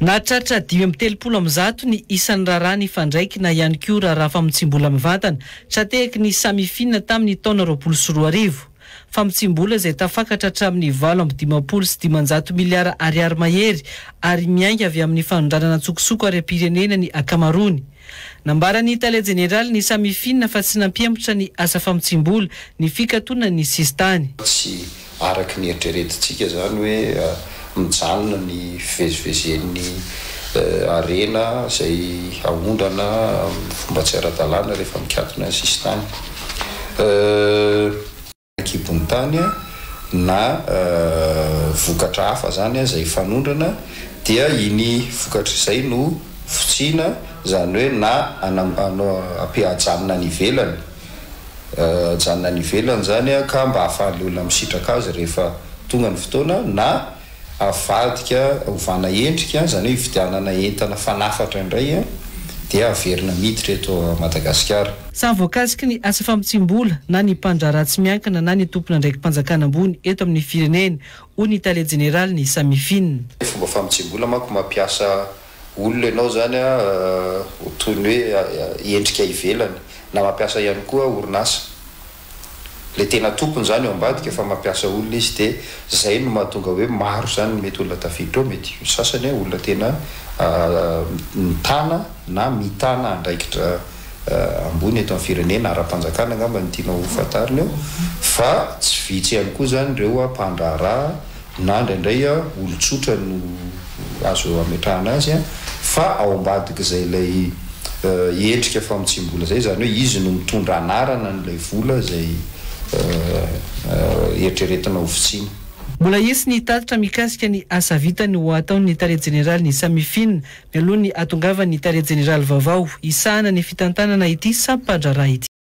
Nahatratra dimy amby telopolo amin'ny zato ny isan'ny raharaha nifandraiky na ihany koa raharaha famotsiam-bola mivantana tra-tehaky ny Samifina tamin'ny taona roapolo sy roa arivo. Famotsiam-bola izay tafakatra hatramin'ny valo amby dimampolo sy dimanjato miliara ariary mahery ary miainga avy amin'ny fanondranana an-tsokosoko ara-pirenena ny ankamaroany. Nambaran'ny tale jeneralin'ny Samifin fa tsy nampihemotra ny asa famotsiam-bola ny fikatonan'ny sisintany. Tsy araka ny eritreretintsika izany hoe mijanona ny fivezivezen'ny harena izay aondrana amin'ny fomba tsy ara-dalàna rehefa mikatona ny sisintany. an-kibon'ny tany na vokatra hafa izany aza hifanondrana dia iny vokatra izay no fotsiana izany hoe na ajanona any ivelany ajanona any ivelany izany ka mba ahafahan'ilay olona misitraka azy rehefa tonga ny fotoana na avadika ovana endrika, izany hoe ividianana entana fanafatra indray dia averina miditra eto Madagasikara. Samy voakasiky ny asa famotsiam-bola na ny mpandraharaha tsy miankina na ny tompon'andraiki-panjakana ambony eto amin'ny firenena, hoy ny tale jeneralin'ny Samifin. Fomba famotsiam-bola manko mampiasa olona ianao izany ho toy ny hoe endrika ivelany na mampiasa ihany koa orinasa. le tena tompony zany ao ambadika fa mampiasa olona izy de zay no mahatonga hoe maro zany ny mety olona tafiditra ao mety ny sasany a olona tena mitana na mitana andraikitra ambony eto am firenena arampanjakana angamba no tianao ho fantarina eo fa tsy vitsy ihany koa zany reo mpandraharaha na indraindray olon-tsotra no azo ametrahana azy fa ao ambadik'izay ilay endrika famotsiam-bola izay, izany hoe izy no mitondra anarana an'ilay vola izay eritreretina ho vitsiana. Mbola hisy ny tatitra mikasika ny asa vitany ho ataon'ny Tale Jeneralin'ny Samifin mialoha ny hahatongavan'ny Tale Jeneraly vaovao hisahana ny fitantanana ity sampan-draharaha ity.